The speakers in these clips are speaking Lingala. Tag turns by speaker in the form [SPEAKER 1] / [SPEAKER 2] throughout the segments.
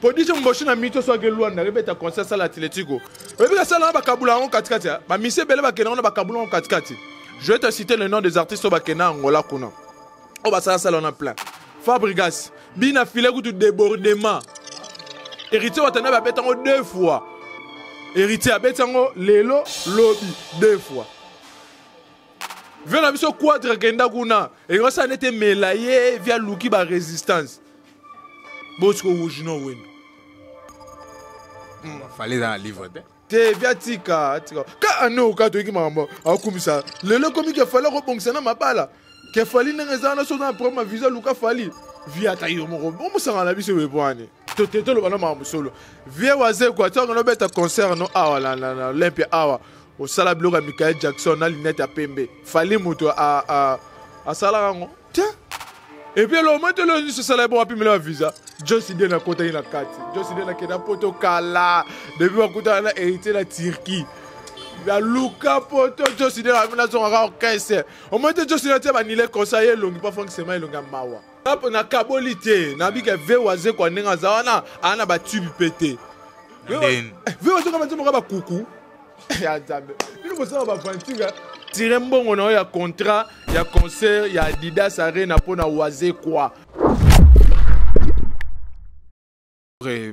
[SPEAKER 1] production moboshi na mito so ake luanda rebeta concert sala atletico oyebi kasala na bakabula yango katikati bamise ebele bakenda yango na bakabula yango katikati je vais te citer le nom des artistes oyo bakenda angola kuna oyo basalasala wana plein fabrigas bina file kutu débordement héritier watanda babeta yango deux fois héritier abeti yango lelo lobi deux fois vio na biso quadre kenda kuna ekosala nete mela ye via luki ba resistance bosiko wujino wendo hmm.
[SPEAKER 2] fale eza na livre te te via tika
[SPEAKER 1] tika ka ane oka toyiki makambo akumisa lelo ekomi ke fali akobongisa na mabala ke fali ndenge eza wana soza na problème ya visa luka fali via ata yo moko omusanga na biso bepwani tote toloba na makambo solo vie wazekwa ntango nobeta concert no awa na olympia awa osala biloko ya michael jackson na linete ya pembe fali moto asalaka yango tiens epuis elomete lelo nyonso esala ebongo apimela ya visa josi den akotaki na kati josi den akenda poto kala depuis bakutana na héritier na turquie naluka poto josi den abi nazongaka orchestre omete josi den atia banile konsa ye elongi mpo frank sema elongi ya mawa nakaboli te nabika ve wazekwa ndenge aza wana aa na batube mpe te ve wazekwa bazomoka bakuku ya nzambe bino bosala baventure tire mbongo na yo ya contrat ya concert ya adidas arena mpo na waze kwa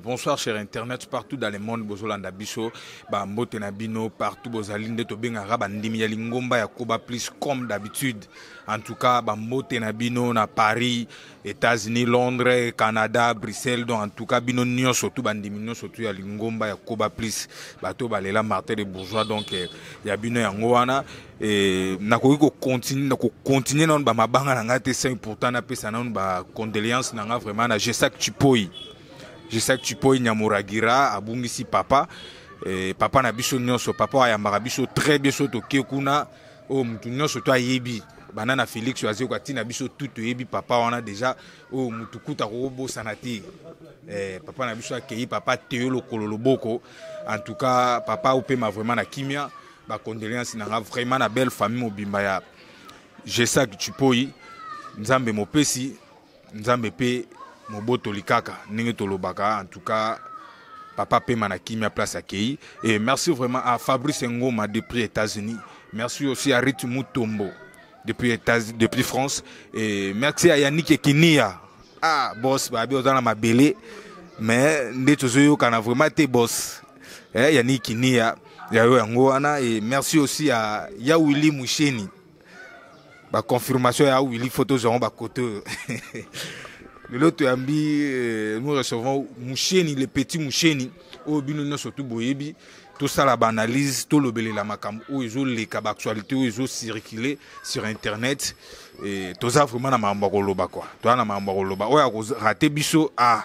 [SPEAKER 2] bonsoir cher internet partout dans le monde bozolanda biso bambote na bino partout bozali nde tobengaka bandimi ya lingomba ya koba plus comme d'habitude en tout cas bambote na bino na paris États-Unis, Londres, Canada, Bruxelles, donc en tout cas bino nyonso tout bandimi nyonso tout ya lingomba ya Koba plus bato balela Martin de bourgeois donc eh, ya bino yango wana eh, nakoki kocontinue na kocontinue nano bamabanga na ngai te sans pourtant napesa nano bacondoléance na ngai vraiment na Gesac Chipoi Gesac Chipoi Nyamuragira abungisi papa eh, papa na biso nyonso papa ayambaka biso très bien so toke kuna oyo motu nyonso to ayebi banda na félix oyo azoyoka ntina biso tu toyebi papa wana deja oyo motu kuta kokobosana te eh, papa na biso akei papa teyo lokolo loboko en tout cas papa opema vraiment na kimia bacondoléance na nga vraiment na belle famille mobimba ya gesak chipoi nzambe mopesi nzambe mpe mobotoli kaka ndenge tolobaka en tout cas papa pema na kimia place akei et merci vraiment à fabrice ngoma depuis états-unis merci aussi à rit mutombo depuis, Etats, depuis france et merci à yannick ekinia ah boss babi oza na mabele mais nde tozoyokana vraiment te boss eh, yannick ekinia yayo yango wana et merci aussi à yawili musheni ba confirmation ya Willy photo zongo ba côté lelo toyambi euh, nous recevons musheni le petit musheni oyo bino nyonso tu boyebi tosala baanalyse tolobelela makambo oyo ezoleka baactualité oyo ezocircule sur internet toza vraiment na makambo ya koloba kua toza na makambo ya koloba oyo akorate biso a ah,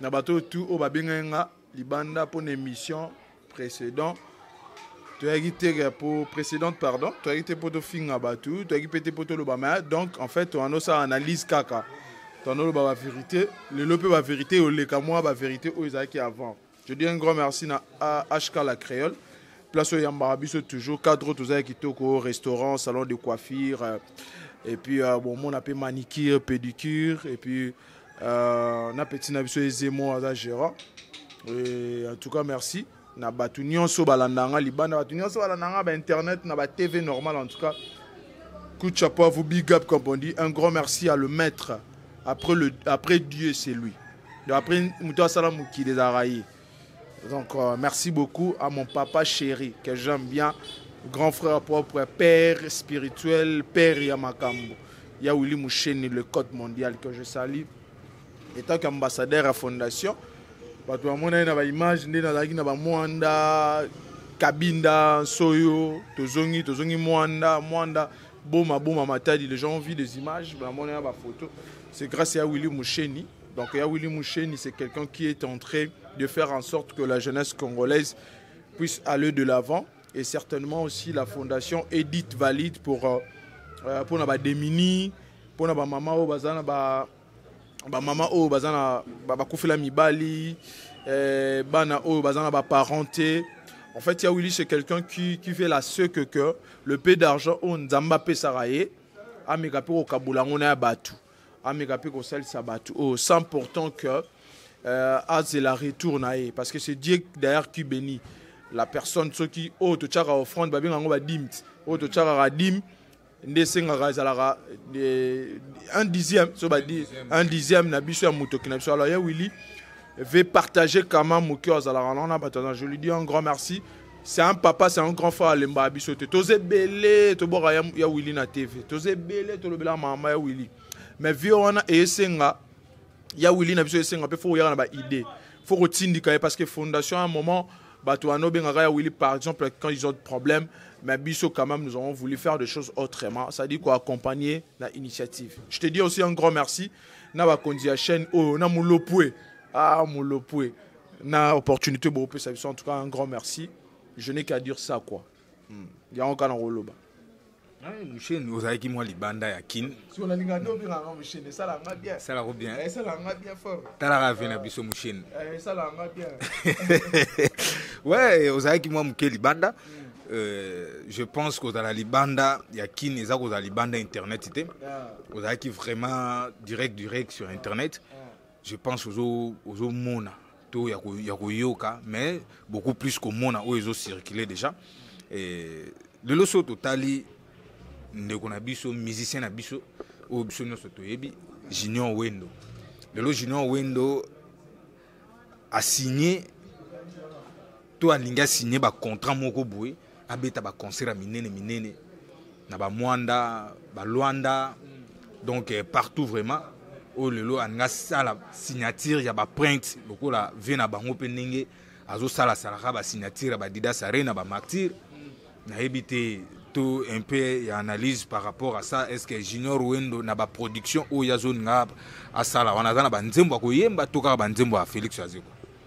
[SPEAKER 1] na bato oyo tu oyo babengaki nga libanda mpo na émission précédent toyaki te mpo précédente pardon toyaki te mpo tofinga bato toyaki mpe te mpo toloba ma donc en fait toyana osala analyse kaka toyana oloba bavérité lelo mpe bavérité eyoleka mwa bavérité oyo ezalaki avant je dis un grand merci na hk la créole place oyo eyambaka biso toujours cadre oyo toza ya kitoko restaurant salon de coiffure euh, et puis euh, bon mona mpe manicure pédicure et puis euh, euh, na petit na biso ezemo aza gérant et en tout cas merci na bato nyonso balanda nga libanda bato nyonso balanda nga bainternet na batv normal en tout cas coup de chapeau à vous big up comme on dit un grand merci à le maître après, le, après dieu c'est lui après moto asala mokili ezalaka ye Donc, euh, merci beaucoup à mon papa chéri que j'aime bien, grand frère propre, père spirituel, père Yamakambo. Il y a Willy Moucheni, le code mondial que je salue. Étant qu'ambassadeur à fondation, bato bamonaki na baimage nde nazalaki na bamwanda kabinda nsoyo tozongi tozongi mwanda mwanda boma boma matadi les gens ont vu des images bamonaki na bafoto c'est grâce ya willy musheni Donc ya Willy Moucheni c'est quelqu'un qui est en train de faire en sorte que la jeunesse congolaise puisse aller de l'avant et certainement aussi la fondation Edith Valide pour euh, euh pour na ba demini, pour na ba maman au bazana ba ba maman au bazana ba, ba kufela mibali, euh, bana au bazana ba parenté. En fait, ya Willy c'est quelqu'un qui qui fait la ce que que le peu d'argent on Nzamba Pesaraye ameka pe au Kabulango na batu. ameka mpe kosalisa bato oyo sans pourtant que euh, azela retour na ye parce que c'est dieu d'ailleurs qui bénit la personne soki oyo totyaka offrande babenga yango badime oyo totyakaka dime nde esengaka ezalaka euh, un dixième so badi un dixième na biso ya motoki na biso alors ya willi ve partager kama moke azalaka naona bato aza je lui dis un grand merci c'est un papa c'est un grand frère alembaka biso te toza ebele tobwaka ya, ya willi na tv toza ebele tolobelaka mama ya willi mais vie wana esenga ya willi na biso esenga mpe fo koyaka na baidée fo kotindika ye parce que fondation un moment bato wana obengaka ya willi par exemple quand ils ont de problème mais biso quand même nous avons voulu faire des choses autrement ça dit koaccompagner na initiative je te dis aussi un grand merci na bakonzi ya chaîne oyo na molopue ah molopue na opportunité bopesa biso en tout cas un grand merci je n'ai qu'à dire ça quoi hmm. yango kaka na koloba
[SPEAKER 2] musheni ozalaki mwa libanda ya kin
[SPEAKER 1] esalako bien
[SPEAKER 2] eh,
[SPEAKER 1] talaka ve na biso
[SPEAKER 2] musheni eh,
[SPEAKER 1] we
[SPEAKER 2] ozalaki mwa moke libanda hmm. euh, je pense kozala libanda ya kin eza kozala libanda internet te ozalaki vraiment direct direct sur internet yeah. je pense ozo ozo mona to ya ko ya koyoka mais beaucoup plus komona oyo ezo circuler déjà et lelo so totali ndeko na biso musicien na biso oyo biso nyonso toyebi junior wendo lelo junior wendo asigne to alingi asigne bacontrat moko boye abeta baconcert ya minene minene na bamwanda balwanda donc eh, partout vraiment oyo lelo alingi asala signature ya baprinte lokola vie na bango mpe ndenge azosalasalaka basignature ya badidas arena bamartire nayebi te to un peu ya analyse par rapport à ça est ce que junior wendo na baproduction oyo azolinga asala wana aza na banzembo ya koyemba to kaka banzembo ya félix azeko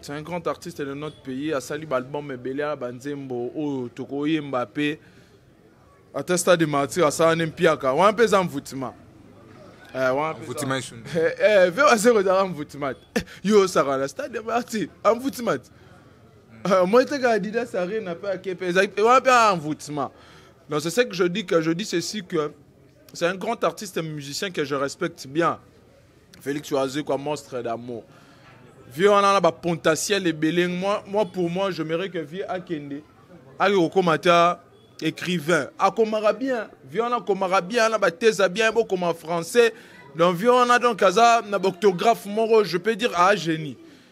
[SPEAKER 1] c'est un grand artiste de notre pays asali baalbum ebele ya banzembo oyo tokoyemba mpe ata stade de martyr asala nde mpiaka wana mpe eza mvutima
[SPEAKER 2] mvutima
[SPEAKER 1] ve wase kozala mvutima te yo osaka na stade de martyr amvutima te moi teka adidas arena mpe ake mpe ezali wana mpe amvutima donc c'est ce que je dis que je dis ceci que c'est un grand artiste musicien que je respecte bien Felix Oazé quoi monstre d'amour. Vieux on a ba potentiel ebele moi moi pour moi je me que vieux akende. Ayo okomata écrivain. Akomara bien. Vieux on a komara bien na ba thèse bien bo comme en français. Donc vieux on a donc kaza na orthographe moro je peux dire ah génie.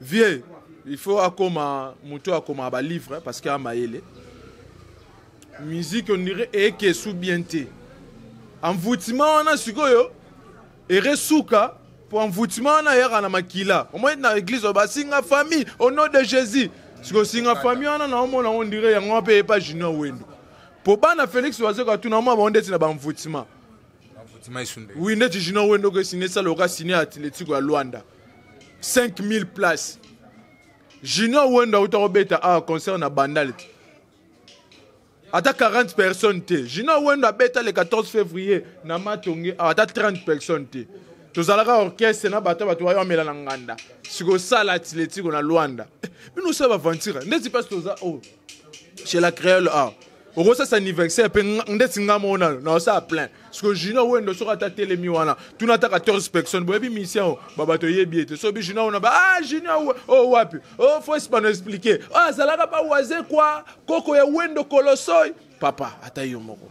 [SPEAKER 1] vieux il faut akoma moto oyo akomaka balivre parce que amayele musique ondire ekesu bien te envoutement wana sikoyo eresuka mpo envoutement wana ayaka na makila omoi na église oyo basinga famille au nom de jésus sikoyo singa famille wana naomona yango ondire yango mpe epa junior wendo mpo bana félix bazoka tuna mwa bango ndeti na baenvoutement oui neti junior wendo ko signe sala oka signe ya atletico ya luanda 5000 place junior wendo auta kobeta awa concert na bandal te ata 40 personnes te junior wendo abeta le 14 février na matonge awa ata 30 personnes te tozalaka orchestre na bato bato bayo amela na nganda sikosala atletico na luanda bino osala baventure ndeti mpasi toza o oh, chez la créole awa okosasa anniversaire mpe ndeti nga moko nayo naosala plein parceke junior wendo soki ata telemi wana tuna ata 14 personne boyebi mission oyo babato oyebi ye te soki junior wana ba ah junior oyo oh, wapi o oh, fo espano explike oyo oh, azalaka bawaze kwa koko ya wendo kolosoi papa ata yo moko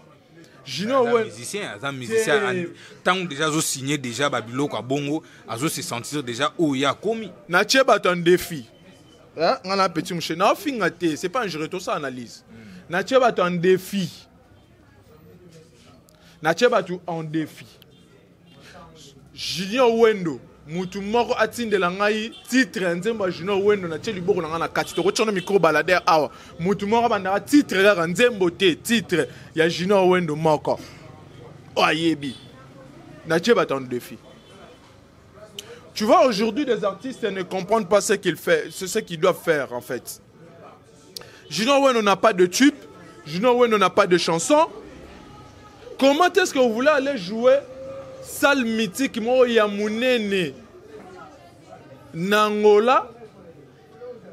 [SPEAKER 1] junior we musicien aza musicien
[SPEAKER 2] ntango deja azosigne deja babiloko ya bongo azose sentir deja oyo ye akomi natie bato en
[SPEAKER 1] défi eh, nga na petit mouche naofinga te c'est pas ingéré tosa analyse mm. natie bato en défi natie bato en défi junior wendo mutu moko atindela ngai titre ya nzembo ya junior wendo natie liboko na ngai na kati tokotya na micro balader awa mutu moko abandaka titre kaka nzembo te titre ya junior wendo moko oyo ayebi natie bato en défi Tu vois, aujourd'hui, les artistes ne comprennent pas ce qu'ils font, ce qu'ils doivent faire, en fait. Junior Weno n'a pas de tube, Junior Weno n'a pas de chanson. Comment est-ce que vous voulez aller jouer salle mythique moko ya munene na Angola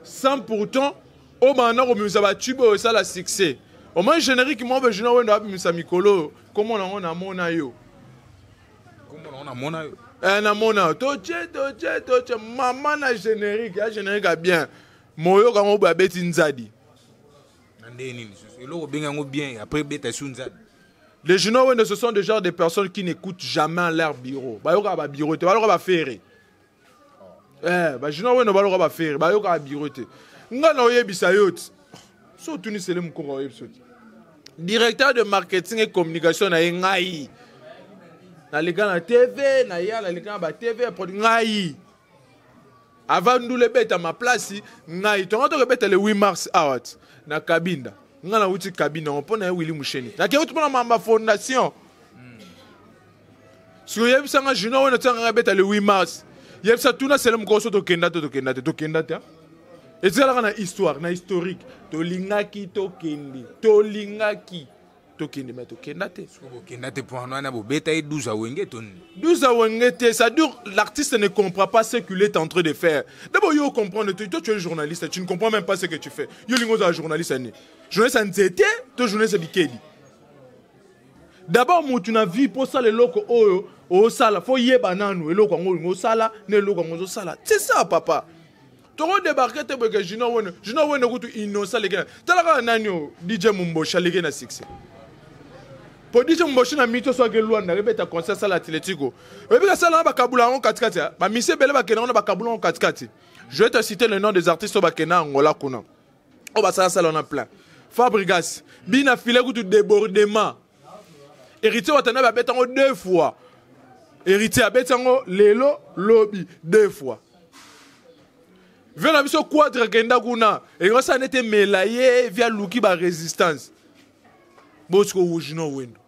[SPEAKER 1] sans pourtant obanda komimisa batube oyo esala succès omoi générique moko mpe junior wendo abimisa mikolo oyo komona yango namona yo
[SPEAKER 2] eh, namona
[SPEAKER 1] toce toce toce mama na générique ya générique ya bien moyoka yango boye abeti nzadi
[SPEAKER 2] eloko obengi yango bien après beta su nzadi les genoux
[SPEAKER 1] wende ce sont des genres de personnes qui n'écoutent jamais leur bureau bayokaka babureau te baloko bafere eh bajinois weno baloka bafere bayokaka biro te ngai naoyebisa yo ti so otuni sele mokoko aoyebisa ti directeur de marketing et communication na ye ngai naleka na tv na ya naleka na batv ya produit ngai avant ndula ebeta maplasi ngai tonga toka ebeta le 8 mars awa ti na kabinda ngai nauti kabinda yango mpo na ye wili musheni nakei uti mpo na mamba fondation siko yebisa nga junior wana tika nga beta le 8 mars yebisa tuna sele mokolo so tokenda te tokenda te tokenda te etikala na histoire na historique tolingaki tokende tolingaki tokende me tokenda te bokenda te mpoana
[SPEAKER 2] wana bobeta ye 12 awenge to nini 12 awenge te
[SPEAKER 1] ça dure l'artiste ne comprend pas ce qu'il est en train de faire d'abord yo comprendre te toi tu es journaliste tu ne comprends même pas ce que tu fais yo lingi ozala journaliste ani journaliste ya nzete to journaliste ya bikedi d'abord mutu na vie mpo osala eloko oyo osala fo yeba nanu eloko yango olingi osala na eloko yango ozosala c'est ça papa toko debarke te boyeke junior wene junior wene kutu innocent aleki na tala kaka nani oyo dj momboshi aleki na succès mpo dj momboshi na mito soki elwanda ebeta concert sala atletico oyebi kasala na bakabula yango katikati bamisi ebele bakenda yango na bakabula yango katikati je te cite le nom des artistes oyo bakenda angola kuna oyo basala sala wana plein fabrigas bina file kutu débordement héritier watanabe abeta yango deux fois héritier abeti yango lelo lobi deux fois vie na biso quadre akenda kuna ekosala nete mela ye vi aluki barésistance botiko wujino wendo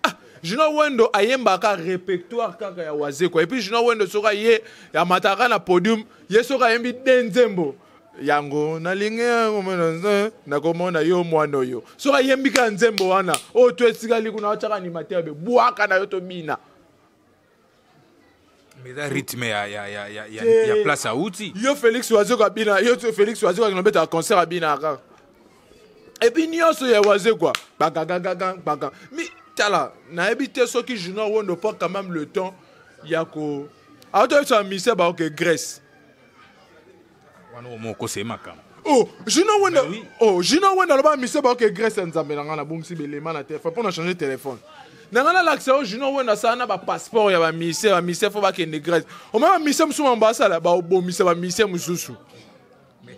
[SPEAKER 1] Ah, Junior Wendo ayembaka repertoire kaka ya Wazekwa. Et puis Junior Wendo soka ye amataka na podium, ye soka ayembi de nzembo. yango nalingi yango mwana nakomona yo mwana oyo soki ayembika nzembo wana oyo to etikali kuna atyaka animateur be bwaka na yo tobina
[SPEAKER 2] eza rythme ya, ya, ya, ya, ya, ya place auti yo félix wazeko
[SPEAKER 1] abina yo félix wazeko akende obetaka concert abina kaka epuis nyonso ya wazekwa bagagagaga baga mi tala nayebi te soki journal wondo prend quand même le temps ya ko aotoyebisa misie baoke grèce wana omo okosa ye makambo oh jina wenda oui. oh jina wenda aloba mise baoke grèce ya nzambe na ngai nabongisi belema na telefone mpo na change telefone na ngai nalakisa yo jina wenda asala na bapasseport ya bamise bamise fo bakende grèce omai bamise mosusu bango basala babomisa bamise mosusu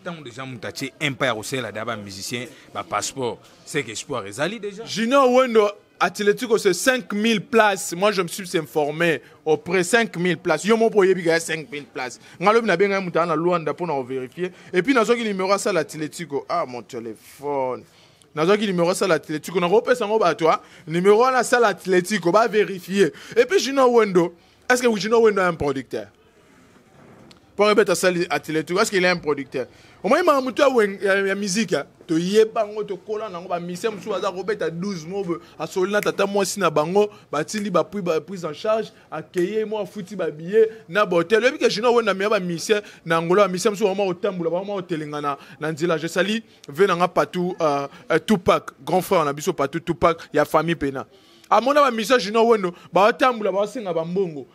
[SPEAKER 2] ntango deja moto atie impa ya kosalela da bamusicien bapasseport seke espoir ezali deja junior wendo
[SPEAKER 1] Atletico c'est 5000 places. Moi je me suis informé auprès 5000 places. Yo mon poye biga 5000 places. Ngalobi na benga muta na Luanda pour na vérifier. Et puis nazoki numéro ça l'Atletico. Ah mon téléphone. nazwaki numéro sala atletico nakopesa yango bato a numéro wana sala atletico bavérifie epuis junior wendo est ce que junior wendo a un producteur mpo ebeta asali atletique parce qu'il est un producteur omoni maka motu ya miziki toyeba yango tokola nango bamisien mosusu baza kobeta 12 mobe asoli na tata mwasi na bango batindi bapui baprise en charge akeye mwa afuti babillet na bahotel oyebi ke junior wenda meya bamisien na angola bamisien mosusu bama kotambola bama kotelengana na nzela je sali ve na nga patou uh, uh, tupac grand frère na biso patou tupac ya famille pena amona bamisien junior wendo baotambola baosenga bambongo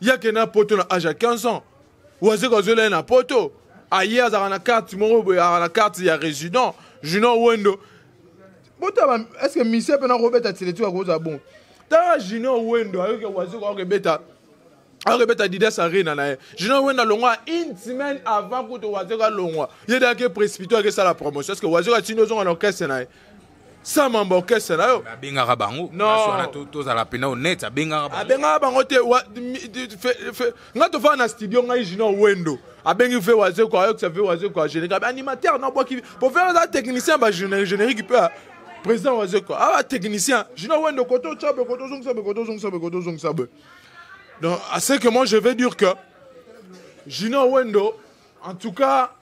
[SPEAKER 1] yake na poto na age ya 15 ans wazeko azola ye na poto aye azalaka na carte moko boye azalaka na carte ya résident junior wendo botaba estce misie mpe nakobeta tiletu akozala bon tala junior wendo ayoki wazeko akobeta akobeta didas arena na ye junior wendo alongwa une semaine avant kutu wazeko alongwa ye dake précipité akesala promotion estce wazeko atindi ozonga na orchestre na ye sa mambo orchestre na yo abengaka bango
[SPEAKER 2] wana tozala
[SPEAKER 1] mpena
[SPEAKER 2] honnête abengaka bango abengaka bango te
[SPEAKER 1] ngai tofanda na studio ngai junior wendo abengi ve wazeko ayokisa ve wazeko agénérique animateur na obwaki po fere aza technicien ba générique mpe président wazeko aa technicien junior wendo koto otya boye koto ozongisa boye koto ozongisa boye koto ozongisa boye donc à ce que moi je vais dire que junior wendo en tout cas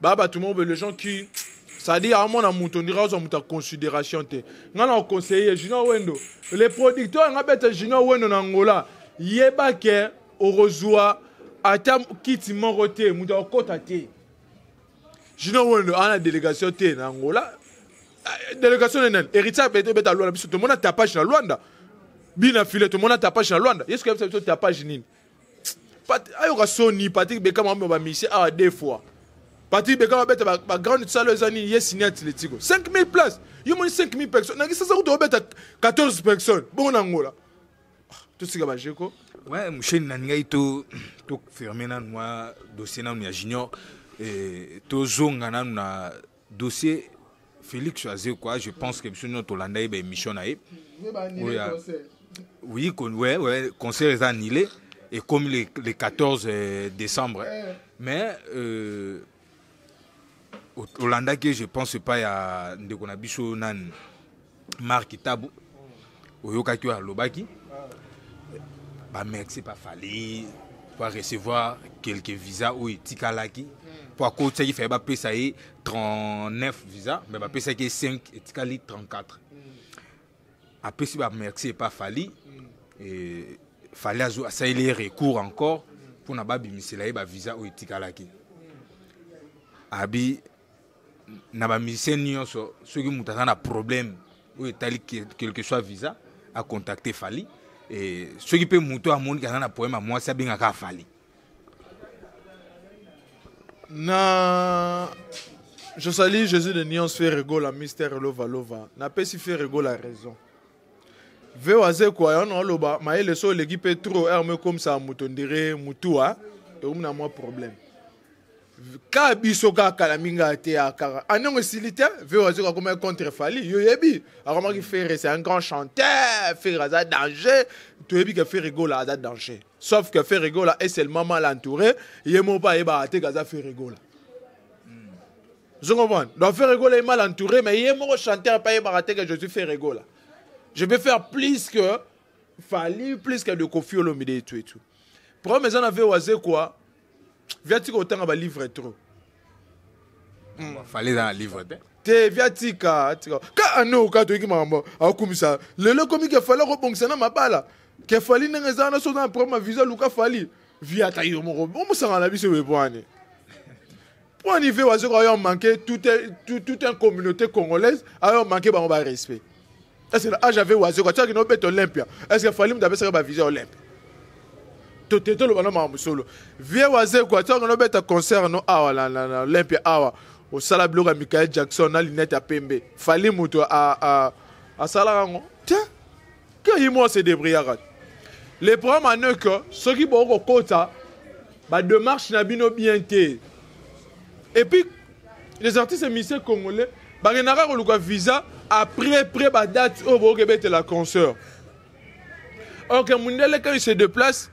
[SPEAKER 1] ba bato moko les gens qui c'est-à-dire amona moto ondira ozwa moto ya considération te ngai na oconseille junior wendo le producteur yanga beta junior wendo na angola yeba ke okozwa ata kiti moko te moto akokota te junior wendo ana délégation te na angola eh, délégation nenene héritier abete beta lwanda biso tomona tapage na lwanda bina file tomona tapage na lwanda yesu kayebisa biso tapage nini Pat, ayoka soni Patrick Beckham amema ba mission awa deux fois. Patrick Beckham abeta ba, ba grande salle eza nini ye signé Atletico. 5000 places. Yo moni 5000 personnes. Na kisasa kutu obeta 14 personnes. Bongo na Angola. Ah, tosika ba jeko. Ouais, musheni na
[SPEAKER 2] ngai to to fermer na noa dossier na ya junior. Eh, tozonga nanu na dossier Félix Azé quoi je pense que biso nyonso tolanda ye ba émission na ye oui kon, ouais, ouais, concert est annulé et comme le, le 14 euh, décembre eh. mais euh, olandaki je pense epai ya ndeko na biso nani marki tabu oyokaki oyo alobaki bamerci pa fali po arecevoir quelque visa oyo etikalaki po akotisaki fai bapesa ye 39 visa me bapesaki ye 5 etikali 34 apesi bamerci epa fali e, fali asaleli ye recours encore mpona babimisela ye bavisa oyo etikalaki abi na ba musicien nyonso soki moto aza na problème oyo etali quelque soit visa acontacte fali e, soki mpe moto amoniki aza na problème ya mwasi abengaka afali na
[SPEAKER 1] je sali jésus de nuance ferre gola mister lova lova napesi ferre gola raison veo azekwa yango aloba mayele so oleki mpe trop r mokomisa moto ndire mutua tokomi na mwa problème ka biso kaka kala mingi ateya kaka aniongo esili te vero azoka koma contre fali yo yebi akomaki ferre c'est un grand chanteur ferre aza danger toyebi ke ferre gola aza danger sauf que ferre gola est seulement mal entouré ye moko mpe ayebaka te kaza ferre gola ozongomona donc ferre gola est mal entouré mais ye moko chanteur mpe ayebaka te ke je suis ferre gola je peux faire plus que fali plus que de kofi olomide et tout et tout problème eza na vero azekwa viatika otanga balivre trop hmm.
[SPEAKER 2] fale eza na livre te te viatika
[SPEAKER 1] tika ka ano ka toyiki makambo akumisa lelo ekomi ke fali akobongisa na mabala ke fali ndenge eza wana soki na problème ya visa luka fali viata yo moko omosanga na biso webwane mpo nive wazoka ayo manke tout un communauté congolaise ayo manke bango ba respect est ce que na age ave wazoka tiaki na obeta olympia est ce que fali moto apesaka bavisa olympia tote toloba na makambo solo vie wazekwa tiaki na obeta concert no awa na olympia awa osala biloko ya michael jackson na linete ya pembe fali moto asalaka yango tiens que ye moi se débrouillaka le problème ane que soki bokoki kokota bademarche na bino bien te epuis les artistes et musiciens congolais bakendaka koluka visa après près badate oyo bokoki ebetela concert ok mundele quand il se déplace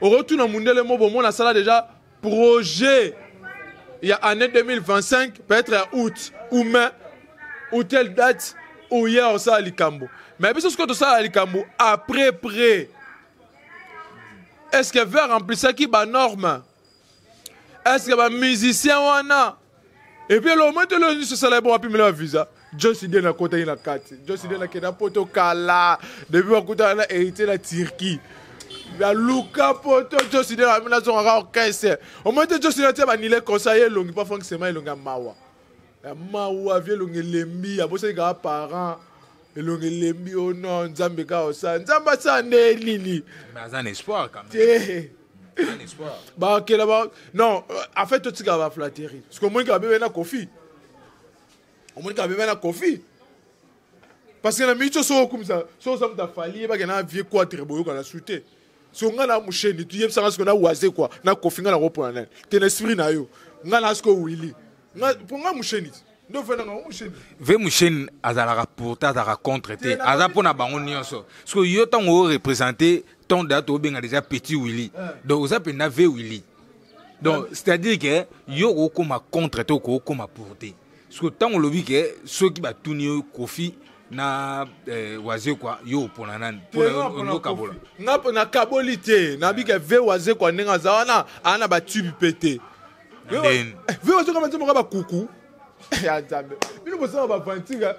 [SPEAKER 1] okotuna mundele mo bomona asala déjà projet ya année 2025 peut-être ya août ou mai ou telle date oya osala likambo mais biso sikoyo tosala likambo après près est ce que ver remplisaki banorme est ce que bamusicien wana Et puis le moto le se sala bon apimela ba visa. Joyce Dieu na kota ina kati. Joyce Dieu na keda poto kala. Depuis ba kota na hérité la Turquie. La Luka poto Joyce Dieu na mina zonga orchestre. Au moins Joyce Dieu na ba nile conseiller longi pas franc sema longa mawa. Mawa vie longi lembi abosani ka parents. elongi elembi o oh non nzambe kaka osala nzambe asala nde nini aza na espoir
[SPEAKER 2] te bakela ba
[SPEAKER 1] non euh, en fait totikaka baflatterie parce que omoni kaka bebe na kofi omoni kaka bebe na kofi parce que na mingi so soki okumisa soki oza moto afali ye bakenda na vie quatre boyokana su te so nga na musheni tuyebisa nga siko na waze kwa na kofi nga na kopona nani te na esprit na yo nga na siko wili nga po nga musheni ndo vena nga musheni ve musheni
[SPEAKER 2] azalaka pour te azalaka contre te aza mpo na bango nyonso siko yo ntango o représente ton date obenga déjà petit willy eh. donc oza mpenza ve willy donc c'est à dire que yo okokoma contre te okokoma pour te siko ntango olobi ke soki batuni yo kofi na eh, wazekwa yo opona nani onokabola nga mpo nakaboli
[SPEAKER 1] te nabike eh. ve wazekwa ndenge aza wana aa na batube mpe te eh, ve wazekwa banzi moka bakuku ya nzambe bino bosala bavantika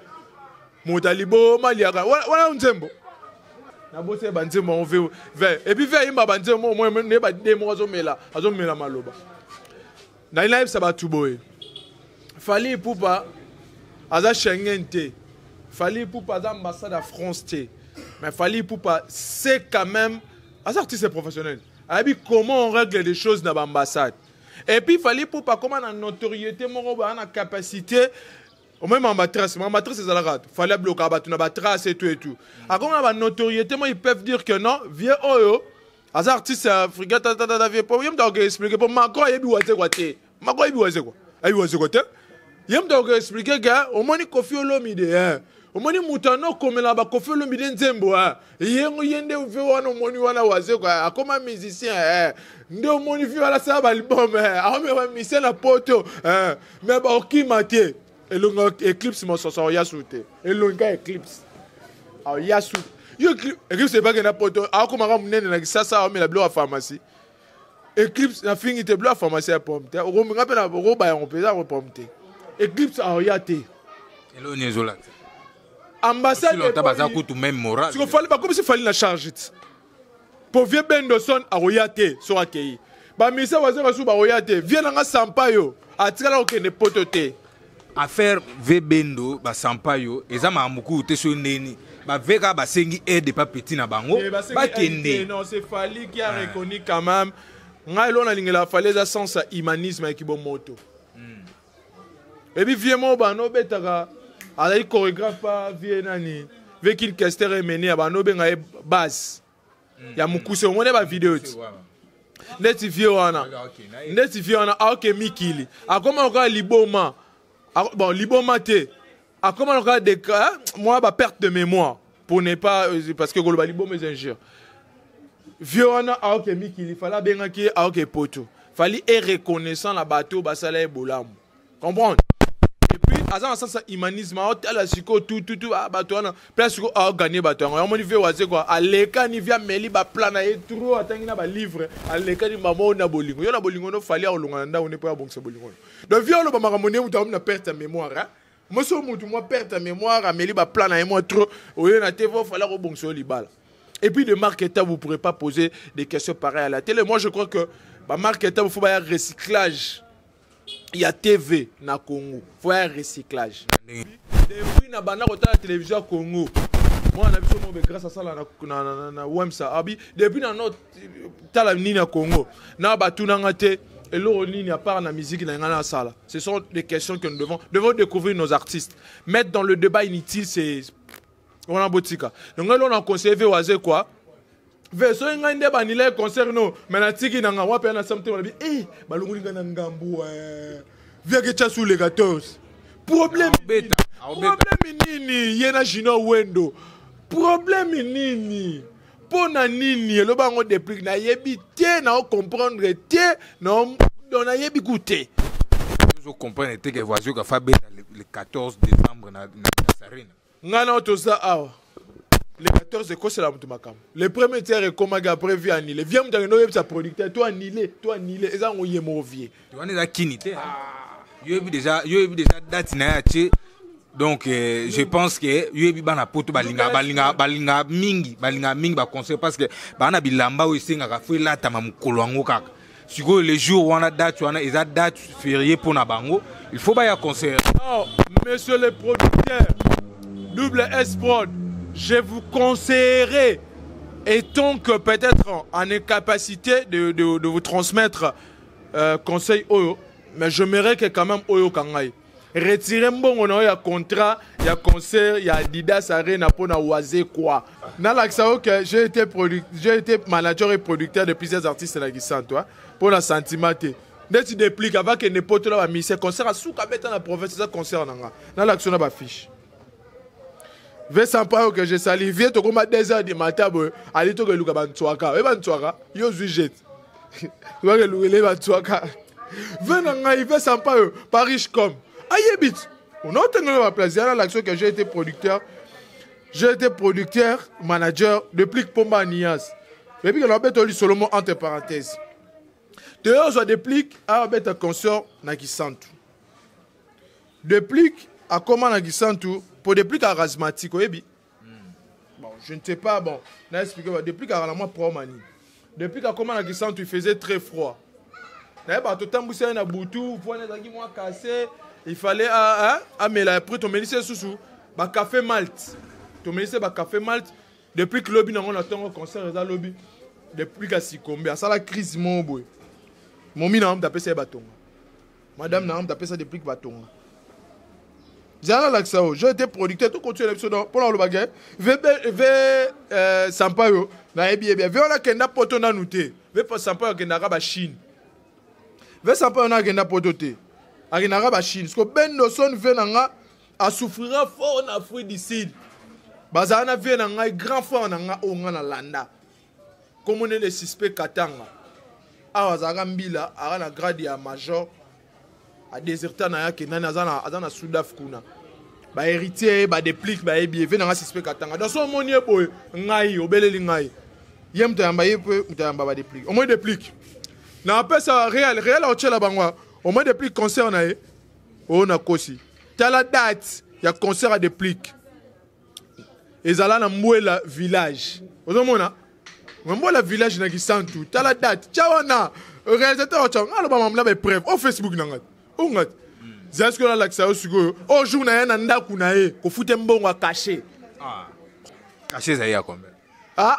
[SPEAKER 1] moto aliboma liaka wana nzembo naboseli banzembo yango ve ve epuis ve ayimba banzembo moko moye nde bademo azomela azomela maloba nali nayebisa bato boye fali ipupa aza schengen te fali ipupa aza ambassade ya france te mais fali ipupa se quand même aza artiste professionnel ayebi comment on règle des choses na baambassade et puis fali ipupa akoma na notoriété moko baa na capacité omoi mambatrace mambatrace ezalaka fali ablokaka bato na batrace etu etu akoma na banotoriété moi ils peuvent dire que non vieux oyo aza artiste ya afrika tatatata vie po ye moto akoki explike po macron ayebi wazekwa te macron ayebi wazekwa ayebi wazekwa te ye moto akoki explike ke omoni kofi olomide eh. omoni moto ana okomela bakofi olomide nzembo eh. yengo ye nde ve wana omoni wana wazekwa eh. akoma musicien eh. nde omoni vi wana asala baalbum eh. aomema musicien na poto eh. me baokima te elonga eclipse mososo aoya su te elonga eclipse aoya su yo eclipse ebake na poto akomaka monene na kisasa aomela biloko ya pharmacie eclipse nafingi te biloko ya pharmacie ya pomme te okomenga mpe okoba yango mpenza yango pomme te eclipse aoya te eloo nini
[SPEAKER 2] ezolakisa
[SPEAKER 1] ambassade baza kutu
[SPEAKER 2] meme morale siko fali bakomisi fali
[SPEAKER 1] na charge te po vie bendoson akoya te soki akei bamisa waza basusu bakoya te vie nanga sampayo atikala kokende poto te affaire
[SPEAKER 2] ve bendo basampayo eza makambo kutu te soki ndeni bave kaka basengi aide epa petit na bango eh, bakende
[SPEAKER 1] ngai elo nalingela fali eza sens ya humanisme ya kibomoto ebi vie moko bana obetaka azali chorégraphe pa vie nani vie kin kester emene ya bana obenga ye base ya mokuse yango nde bavideo ti ndeti vie wana ndeti vie wana aoke mikili akoma lokola liboma bon liboma te akoma lokola de mwa ba perte de mémoire pour ne pas euh, parce que koloba liboma eza injure vieux wana aoke mikili fali abengaki ye aoke poto fali e reconnaissant na bato basala ye bolamu comprendre epuis aza na sasa humanisme aotala sikoyo tututu bato wana place sikoyo aoganie bato yango yamoni vie waze kua alekani vie ameli baplan na ye tro atangi na balivre alekani mama oyo na bolingo yo na bolingo no fali akolonga na ndako nde mpo abongisa bolingo oyo donc vie oloba makambo nde moto aomi na perte ya mémoire mwasi oyo motu mwa perte ya mémoire ameli baplan na ye mwa trop oye na te vo fala kobongisa yo libala et puis de marque eta vous pourrez pas poser des questions pareil à la télé moi je crois que bamarque eta faut baya recyclage ya tv na congo faut baya recyclage depuis na banda kotala télévision ya congo mwana na biso mobe grâce asala na wemsa abi depuis na notre tala nini ya congo na batuna nga te eloko nini à part la musique na nga nasala ce sont des questions que nous devons devons découvrir nos artistes mettre dans le débat inutile c'est wana botika yango eloko na conseille ve waze quoi ve soki ngai nde banila ye concert no mai natiki na nga wapi ya nasala motema nabi e balongoli ngai na ngambu eh. viake chasu le 14 problème problème nini ye na junior wendo problème nini mpo na nini eloba yango deplique nayebi te nao comprendre te nao donc nayebi ku te ozo
[SPEAKER 2] comprendre te ke voisin kafa beta le 14 décembre na sarine ngai nao toza
[SPEAKER 1] awa le 14 ekosela moto makambo le premier tiere ekomaki après vie annule vie moto akende oyebisa producteur to annule to annule eza yango ye moko vie wana eza kini te
[SPEAKER 2] yo yebi deja yo yebi deja date na ye atie donc euh, je pense que yo yebi bana poto balinga balinga balinga mingi balinga mingi baconseil parce que baa na bilamba oyo esengaka fo elatama mokolo yango kaka sikoyo le jour wana date wana eza date ferie mpo na bango il faut baya conseiller non monsieur
[SPEAKER 1] le producteur double s prod je vous conseillerais étant que peut-être en incapacité de, de, de vous transmettre Euh, conseil oyo mais je merai que quand même oyo kangai retire mbongo na yo ya contrat ya concert ya adidas arena mpo na waze kwa nalakisa yo ke j'ai été, j'ai été manager et producteur de plusieurs artistes na kisanto mpo na sentiment te ndeti deplique avakende mpotola bamise concert asuka abeta na province eza concert na nga nalakisa yo na bafiche Vincent Payo que je salue vieux tokoma 2 heures du matin boye ali toke luka bantswaka oye bantswaka yo ozwi jet toke lukele bantswaka ve na ngai Vincent Payo par riche comme ayebi ti onaotengela baplace ya na l'action que j'ai été producteur j'ai été producteur manager de plique pomba anias epi ke nabeta lisolo mo entre parenthèse toyozwa deplique abeta concert na kisantu Deplick akoma na Gisantu po Deplick a charismatique oyebi. Hmm. Bon, je ne sais pas bon, na expliquer ba Deplick a la moi promani. Deplick akoma na Gisantu il faisait très froid. Na ba to tambusela na butu, po na zaki moi cassé, il fallait a a mais la après to melise susu ba café malt. To melise ba café malt depuis que lobi nango na tongo concert eza lobi depuis ka sikombe asala crise mo boye momi na mta pesa ba tongo madame na ngamta apesa deplique batonga zala lakisa yo je ete producteur tokotiela biso mpo na olobaka eh, ve eh, sampa yo nayebi ye bia ve wana akenda poto nanu te ve sampa yo akendaka bachine ve sampa yo na akenda poto te akendaka bachine siko bendoson ve na nga asouffrira fort na afrique du sud bazala na vie na ngai grand frère na ngai oyo ngai nalanda komonele suspect katanga awa azalaka mbila aka na grade ya major adeserta na yake nani aza na sudaf kuna baheritier badeplique bayebi eve nanga suspect katanga donc so omoni ye boye ngai obeleli ngai ye moto ayamba ye mpe moto ayamba badeplique omoi deplique na apesa real real aotyela bango omoi deplique concert na ye oyo nakosi tala date ya concert ya deplique ezala na mbwela village ozomona mbwela village na kisantu tala date tya wana réalisateur watya nga aloba mamla baepreuve o facebook na ngai o ngai zala sikoyo nalakisa yo sikoyo o jour na ye na ndako na ye kofute mbongo ya kashe
[SPEAKER 2] kashe ezali ya combien ah, ah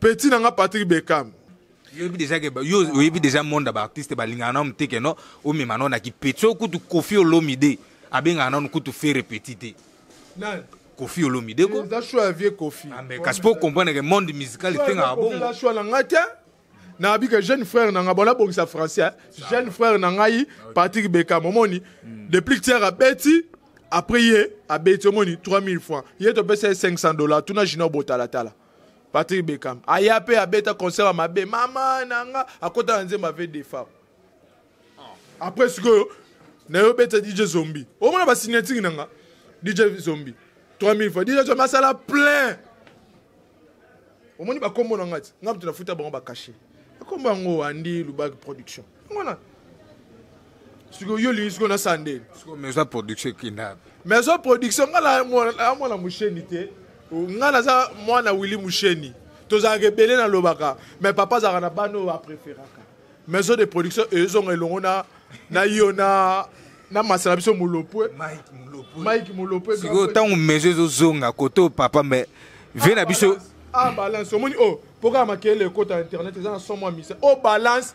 [SPEAKER 1] Petit na nga Patrick Beckham. yoyebi deja
[SPEAKER 2] ke yo oyebi deja monde ya baartiste balingaka nano te keno omema nano na kipeti soki kutu kofi olomide abengaka nano kutu fere petit te nani
[SPEAKER 1] kofi olomide
[SPEAKER 2] ko eza choix ya vieux kofi
[SPEAKER 1] ah, mais kasi po comprendre
[SPEAKER 2] ke monde musical efengaka bongo eza choix na ngai te
[SPEAKER 1] nayebi ke jeune frère na ngai bona bongisa français hein. jeune frère na ngai ah, patrick bekam omoni hmm. depuis tiere abeti après ye abeti omoni 3000 francs ye topesa ye 500 dollars tuna junior botalatala patrick bekam aya mpe abeta concert ya mabe mama na nga akota na nzembo ave defa après sikoyo naye obeta dj zombi omona basignature na nga dj zombi 3000 fois dj zombi asala plein omoni bakombo na nga ti nga moto nafuta bango bakashe bakombo yango andi lubaki production mona sikoyo yo olingi sikoyo nasala nde maison production
[SPEAKER 2] ekenda maison production
[SPEAKER 1] nga na mwana mosheni te nga naza mwana willi mosheni tozalaka ebele nalobaka mais papa azalaka na bana oyo apréféraka maison de production ezonga elongo na na yo na na masala biso molopwe mike molopwe sikoyo ntango maison
[SPEAKER 2] ezozonga kote oyo papa mais vie na biso a ah, balance omoni
[SPEAKER 1] oyo oh, mpo kaka makele ekota internet eza na somo ya misa o oh, balance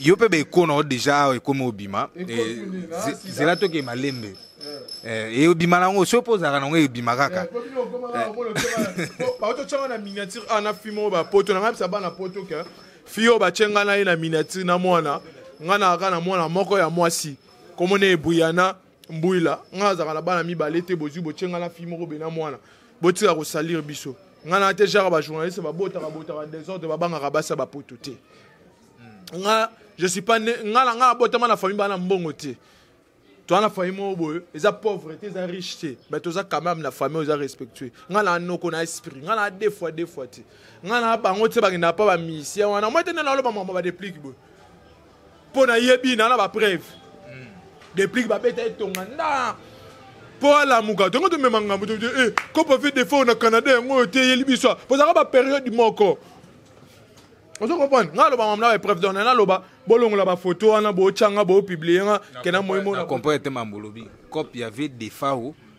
[SPEAKER 2] yo mpe baekona yo deja awa ekomi obima eh, zela toke malembe eh, eh, obima nango soki mpo ozalaka nango ebima kaka
[SPEAKER 1] baototyanga na miniature a ah, na fi moko bapoto na ngai bisa bana poto ke fi oyo batye ngai na ye na miniature na mwana ngai na kaka na mwana moko ya mwasi komona ebuyana mbuila ngai azalaka na bana mibale te bozwi botye ngai na fille moko bena mwana botika kosalire biso ngai na te jaka bajournaliste babotaka botaka desordre babangaka basi ya bapoto te nga je suis pas ne nga na nga abotama na famille bana mbongo te toza na famille moko boye eza pauvre te eza riche te mais toza quand même na famille oyo eza respectueux nga na noko na esprit nga na deux fois deux fois te nga na bango te bakendaka mpa bamisien wana moi te nde naloba mama badeplike boye mpo nayebi na na bapreuve hmm. deplique babeta etonga nda mpo alamuka tongo tomema ngambo tobi eh, kopo fe defo na canada yango oyo te eyeli biso bozalaka baperiode moko ozo comprendre ngai aloba mamna ba epreuve dona naloba bolongola bafoto wana botyanga boopiblie nga kena moyimona comprendre te mambo olobi
[SPEAKER 2] cope ya ve defao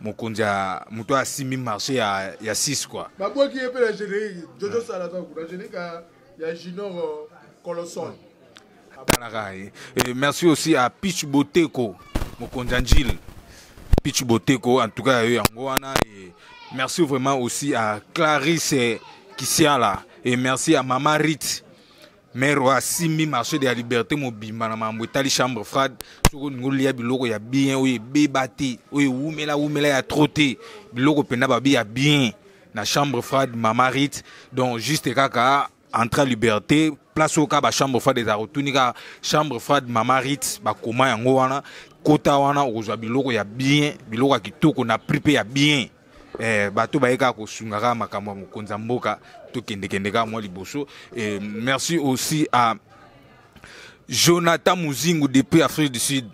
[SPEAKER 2] mokonzi ya moto asimbi marché ya, ya 6 kua babwaki ye mpe na
[SPEAKER 1] générique jojo ah. salaka kuna générique ya junior euh, colosol atalaka ye
[SPEAKER 2] eh, merci aussi à pitch boteko mokonzi ya njile pitch boteko en tout cas ya yo yango wana et merci vraiment aussi à clarisse kisiala et merci à mama rite maire oyo asimbi marché de la liberté mobimba na mambo etali chambre frade soki olingi olia biloko ya bien oyo ebeba te oyo ewumela wumela ya tro te biloko mpenza babi ya bien na chambre frade mama rite donc juste kaka entre ya liberté place oyo kaka bachambre frade ezala kotuni kaka chambre frade mama rite bakoma yango wana kota wana okozwa biloko ya bien biloko ya kitoko na prix mpe ya bien eh, bato baye kaka kosunga kaka makambo ya mokonzi ya mboka tokendekende kaka mwa liboso eh, merci aussi à jonathan muzingu depuis afrique du sud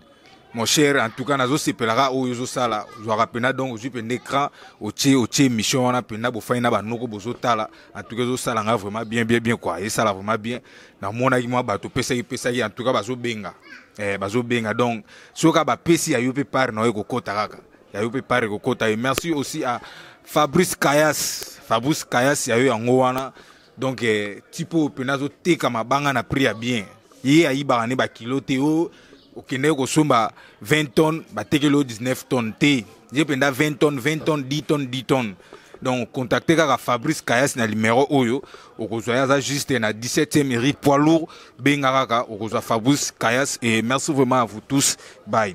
[SPEAKER 2] mon cher en tout cas nazosepela kaka oyo ozosala ozwaka mpena donc ozwi mpenda écran otie otie émission wana mpenda bofai na banoko bozotala en tout cas ezosala ngai vraiment bien bien bien kua esala vraiment bien namonaki mwa bato opesaki pesaki en tout cas bazobenga eh, bazobenga donc soki kaka bapesi ya yo mpe pare na yo ekokota kaka ya yo mpe pare kokota ye merci aussi à fabrice kayas fabrice kayas ya yo yango wana donc eh, tipo oyo mpena azoteka mabanga na prix ya bien ye ayibaka nde bakilo te o okendeki kosomba 20 tonnes batekeli yo 19 tonnes te ye mpenza 20 tonnes 20 tonnes 10 tonnes 10 tonnes donc contacte kaka fabrice kayas na limero oyo okozwa ye aza juste na 17e eri poids lourd benga kaka okozwa fabrice kayas et merci vraiment à vous tous bye